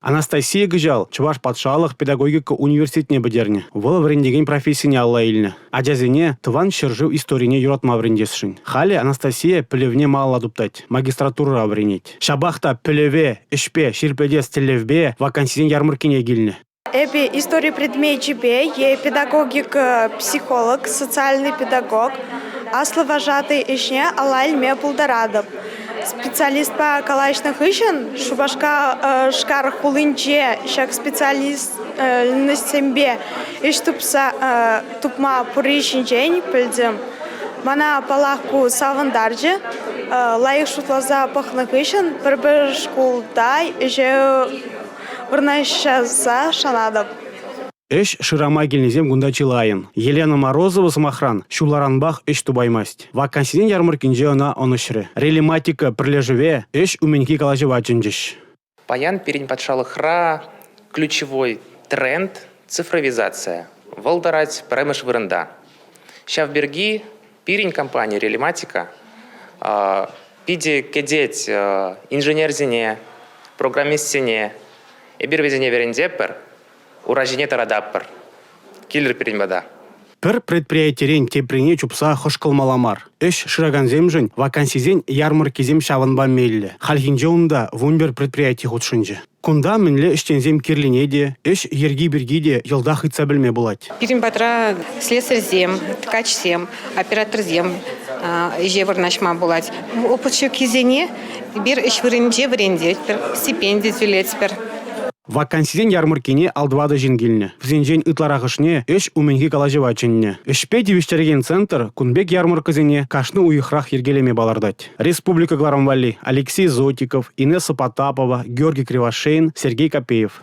Анастасия кӑҫал Чӑваш патшалӑх педагогика университетне пӗтернӗ. Вӑл вӗрентекен профессине алла илнӗ. Ачасене тӑван ҫӗршыв историне юратма вӗрентесшӗн. Халӗ Анастасия пӗлӗвне малалла туптать, магистратурӑра вӗренет. Ҫапах та пӗлӗве, ӗҫпе ҫирӗплетес тӗллевпе вакансисен ярмӑрккине килнӗ. Эпӗ истори предмечӗпе е педагогика психолог, социальный педагог, аслӑ вожатӑй ӗҫне ала илме пултаратӑп. Специалистпа калаҫнӑ хыҫҫӑн Шупашкар хулинче ҫак специальноҫсемпе ӗҫ тупма пурри ҫинчен пӗлтӗм. Мана, паллах, ку савӑнтарчӗ. Лайӑх шутласа пӑхнӑ хыҫҫӑн пӗр-пӗр шкулта ӗҫе Вырнаҫтарса шанатӑп. Ӗҫ шырама килнисем кунта чылайӑн. Елена Морозова, сӑмахран, ҫулларанпах ӗҫ тупаймасть. Вакансисен ярмӑрккинче ӑна ӑнӑҫрӗ. Релиматика пӗрлешӗве ӗҫ умӗнхи калаҫӑва чӗнчӗҫ. Паян пирӗн патшалӑхра ключевой тренд цифровизация. Вӑл тӑрать пӗрремӗш вырӑнта. Ҫав пирки Пирӗн компани Релематика питӗ кӗтет инженерсене, программистсене. Эпир вӗсене вӗрентепӗр, ура ҫине тӑрататпӑр. Килӗр пирӗн пата. Пӗр предприятирен теприне чупса хӑшкӑлмалла мар. Ӗҫ шыракансемшӗн вакансисен ярмӑрккисем ҫавӑнпа меллӗ. Хальхинче унта вунпер предприяти хутшӑнчӗ. Кунта мӗнле ӗҫченсем кирлине те, ӗҫ йӗрки пирки те йӑлтах ыйтса пӗлме пулать. Пирӗн патра слесарьсем, ткачсем, операторсем ӗҫе вырнаҫма пулать. Опыт ҫуккисене эпир ӗҫ вырӑнӗнче вӗрентетпӗр, стипенди тӳлетпӗр. Вакансисен ярмӑрккине ал-тӑватӑ ҫын килнӗ. Вӗсенчен ытларахӑшне ӗҫ умӗнхи калаҫӑва чӗннӗ. Ӗҫпе тивӗҫтерекен центр кун пек ярмӑрккӑсене кашни уйӑхрах йӗркелеме палӑртать. республика кӑларӑм валли Алексей Зотиков, Инесса Потапова, Георгий Кривошеин, Сергей Копеев.